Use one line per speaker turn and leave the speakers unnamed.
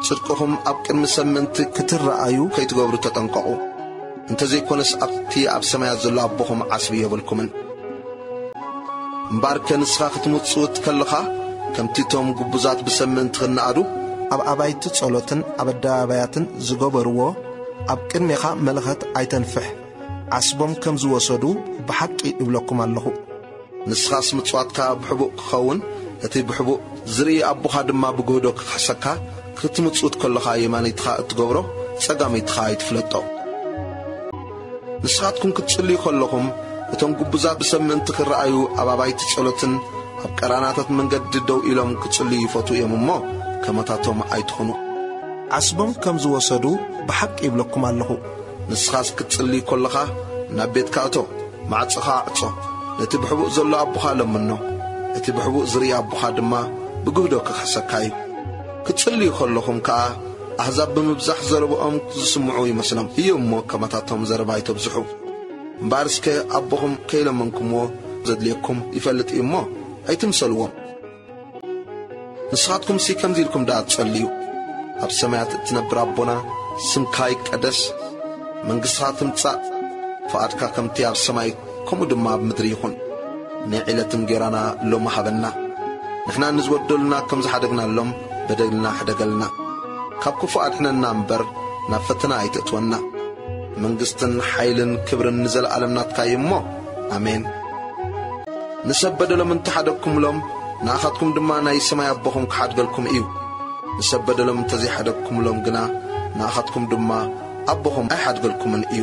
ጽድቅኹም ኣብ ቅድሚ ሰብ ምእንቲ ክትረኣዩ ከይትገብሩ ተጠንቀቑ፣ እንተ ዘይኰነስ ኣብቲ ኣብ ሰማያት ዘሎ ኣቦኹም ዓስቢ የብልኩምን። እምበኣርከ ንስኻ ክትምጽውት ከለኻ፣ ከምቲ እቶም ግቡዛት ብሰብ ምእንቲ ኽነኣዱ፣ ኣብ ኣባይቲ ጸሎትን ኣብ ኣደባባያትን ዝገበርዎ፣ ኣብ ቅድሜኻ መለኸት ኣይተንፍሕ፣ ዓስቦም ከም ዝወሰዱ ብሓቂ እብለኩም ኣለኹ። ንስኻስ ምጽዋትካ ብሕቡእ ክኸውን፣ እቲ ብሕቡእ ዚርኢ ኣቦኻ ድማ ብግህዶ ኪኽሕሰካ፣ ክትምጽውት ከሎኻ የማነይትኻ እትገብሮ፣ ጸጋመይትኻ ኣይትፍለጦ። ንስኻትኩም ክትጽልዩ ከሎኹም፣ እቶም ግቡዛት ብሰብ ምእንቲ ኪረኣዩ ኣብ ኣባይቲ ጸሎትን ኣብ ቀራናታት መንገዲ ደው ኢሎም ኪጽልዩ ይፈትዉ እዮም እሞ፣ ከማታቶም ኣይትኹኑ። ዓስቦም ከም ዝወሰዱ ብሓቂ እብለኩም ኣለኹ። ንስኻስ ክትጽሊ ኮለኻ ናብ ቤትካ እቶ ማዕጾኻ ኣዕጾ ነቲ ብሕቡእ ዘሎ ኣቦኻ ለምኖ እቲ ብሕቡእ ዝርኢ ኣቦኻ ድማ ብግህዶ ክክሕሰካ እዩ ክትጽልዩ ከለኹም ከኣ ኣህዛብ ብምብዛሕ ዘረብኦም ዝስምዑ ይመስሎም እዩ እሞ ከማታቶም ዘረባ ኣይተብዝሑ እምበኣር እስከ ኣቦኹም ከይለመንኩምዎ ዘድልየኩም ይፈልጥ እዩ እሞ ኣይትምሰልዎም ንስኻትኩምሲ ከምዚ ኢልኩም ደኣ ጸልዩ ኣብ ሰማያት እትነብር ኣቦና ስምካ ይቀደስ መንግሥትኻ ትምጻእ ፍቓድካ ከምቲ ኣብ ሰማይ ከምኡ ድማ ኣብ ምድሪ ይኹን ናይ ዕለት እንጌራና ሎሚ ሃበና ንሕና ንዝበደሉና ከም ዝሓደግናሎም በደልና ሕደገልና ካብ ክፉ ኣድሕነና እምበር ናብ ፈተና ኣይተእትወና መንግሥትን ሓይልን ክብርን ንዘለዓለም ናትካ እዩ እሞ ኣሜን። ንሰብ በደሎም እንተ ሓደግኩምሎም፣ ንኣኻትኩም ድማ ናይ ሰማይ ኣቦኹም ኪሓድገልኩም እዩ። ንሰብ በደሎም እንተ ዘይሓደግኩምሎም ግና፣ ንኣኻትኩም ድማ ኣቦኹም ኣይሓድገልኩምን እዩ።